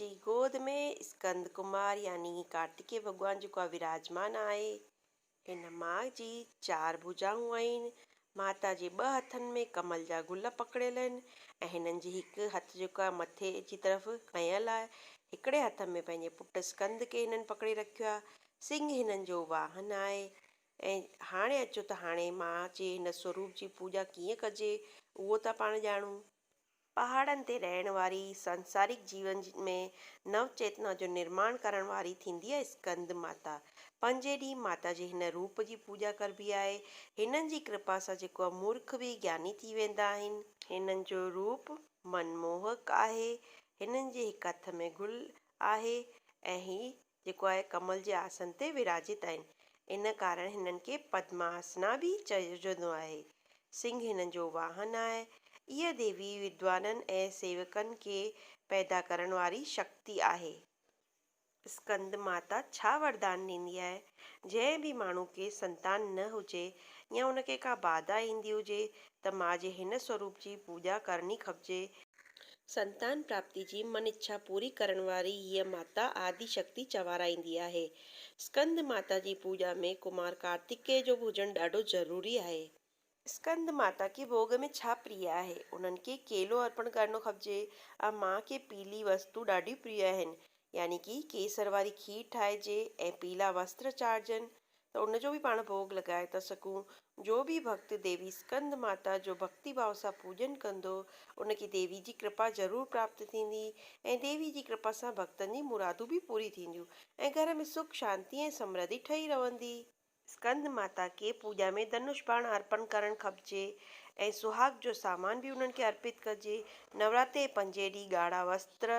جي گود ۾ اسڪند ڪمار يعني ڪارتڪي ڀڳوان جيڪو آهي وراجمان آهي. هن ماء جي چار ڀوجائون آهن. ماتا جي ٻه هٿن ۾ ڪمل جا گل پڪڙيل آهن ۽ هنن جي هڪ هٿ جيڪو آهي مٿي جي طرف کنيل آهي. هڪڙي هٿ ۾ پنهنجي پٽ اسڪند کي هنن پڪڙي رکيو آهي. سنگهه هنن جو واهن آهي. ۽ هاڻي اچو ته هاڻي ماء جي هن سوروپ جي پوڄا ڪيئن ڪجي اهو ٿا پاڻ ڄاڻون. پهاڙن تي رهڻ واري سانسارڪ جيون ۾ نو چيتنا جو نرماڻ ڪرڻ واري ٿيندي آهي اسڪند ماتا. پنجين ڏينهن ماتا جي هن روپ جي پوڄا ڪربي آهي. هنن جي ڪرپا سان جيڪو امورک به گياني ٿي ويندا آهن. هنن جو روپ من موهڪ آهي. هنن جي هڪ هٿ ۾ گل آهي ۽ هي جيڪو آهي ڪمل جي آسن تي وراجيت آهن. ان ڪارڻ هنن کي پدماسنا به چئجندو آهي. سنگهه هنن جو واهن آهي. اها ديوي ودوانن ۽ سيوڪن کي پيدا ڪرڻ واري شڪتي آهي. اسڪند ماتا ڇا وردان ڏيندي آهي؟ جنهن به ماڻهو کي سنتان نه هجي يا ان کي ڪا باڌا ايندي هجي ته ماء جي هن سوروپ جي پوڄا ڪرڻي کپجي. سنتان پراپتي جي من اڇا پوري ڪرڻ واري هيء ماتا آدي شڪتي چوارائيندي آهي. اسڪند ماتا جي پوڄا ۾ ڪمار ڪارتڪيء جو به هجڻ ڏاڍو ضروري آهي. اسڪند ماتا کي ڀوڳ ۾ ڇا پريا آهي؟ انهن کي ڪيلو ارپڻ ڪرڻو کپجي ۽ ماء کي پيلي وستون ڏاڍيون پريون آهن يعني ڪي ڪيسر واري کير ٺاهجي ۽ پيلا وستر چاڙهجن. ته ان جو به پاڻ ڀوڳ لڳائي ٿا سگهون. جو به ڀڪت ديوي اسڪند ماتا جو ڀڪتي ڀاو سان پوڄن ڪندو، ان کي ديوي جي ڪرپا ضرور پراپت ٿيندي ۽ ديوي جي ڪرپا سان ڀڪتن جي مرادون به پوري ٿينديون ۽ گهر ۾ سک شانتي ۽ سمرڌي ٺهي رهندي. اسڪند ماتا کي پوڄا ۾ ڌنوش باڻ ارپڻ ڪرڻ کپجي ۽ سهاڳ جو سامان به انهن کي ارپت ڪجي. نوراتري جي پنجين ڏينهن ڳاڙها وستر،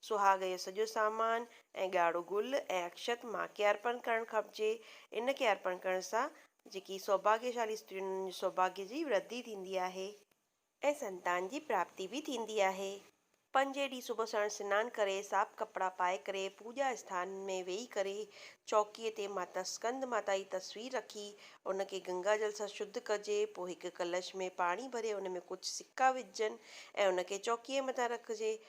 سهاڳ جو سڄو سامان، ۽ ڳاڙهو گل ۽ اڪشت ماء کي ارپڻ ڪرڻ کپجي. ان کي ارپڻ ڪرڻ سان جيڪي سوڀاگيشالي استريون هونديون آهن سوڀاگيه جي وردي ٿيندي آهي. ۽ سنتان جي پراپتي به ٿيندي آهي. پنجين ڏينهن صبح سڻ سنان ڪري صاف ڪپڙا پائي ڪري پوڄا اسٿان ۾ ويهي ڪري چوڪيء تي ماتا سڪند ماتا جي تصوير رکي ان کي گنگا جل سان شڌ ڪجي پوء هڪ ڪلش ۾ پاڻي ڀري ان ۾ ڪجهه سڪا وجهجن ۽ ان کي چوڪيء مٿان رکجي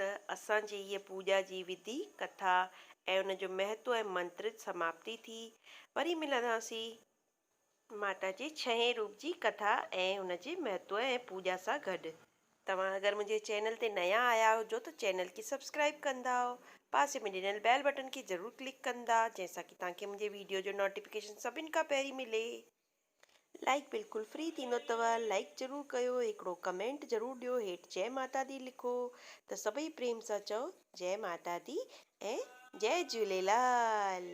ته اسان جي هيء پوڄا جي وڌي، ڪٿا ۽ ان جو مهتو ۽ منترت سماپتي ٿي. وري ملنداسين. ماتا جي ڇهين روپ جي ڪٿا ۽ ان جي مهتو ۽ پوڄا سان گڏ. توهان اگر منهنجي چينل تي نيان آيا هجو ته چينل کي سبسڪرائيب ڪندا ۽ پاسي ۾ ڏنل بيل بٽن کي ضرور ڪلڪ ڪندا جنهن سان ڪي توهان کي منهنجي ويڊيو جو نوٽيفڪيشن سڀن کان پهرين ملي. لائيڪ بلڪل فري ٿيندو اتو لائيڪ ضرور ڪيو هڪڙو ڪمينٽ ضرور ڏيو هيٺ جئي ماتا دي لکو ته سڀئي پريم سان چئو جئي ماتا دي ۽ جئي جهوليلال.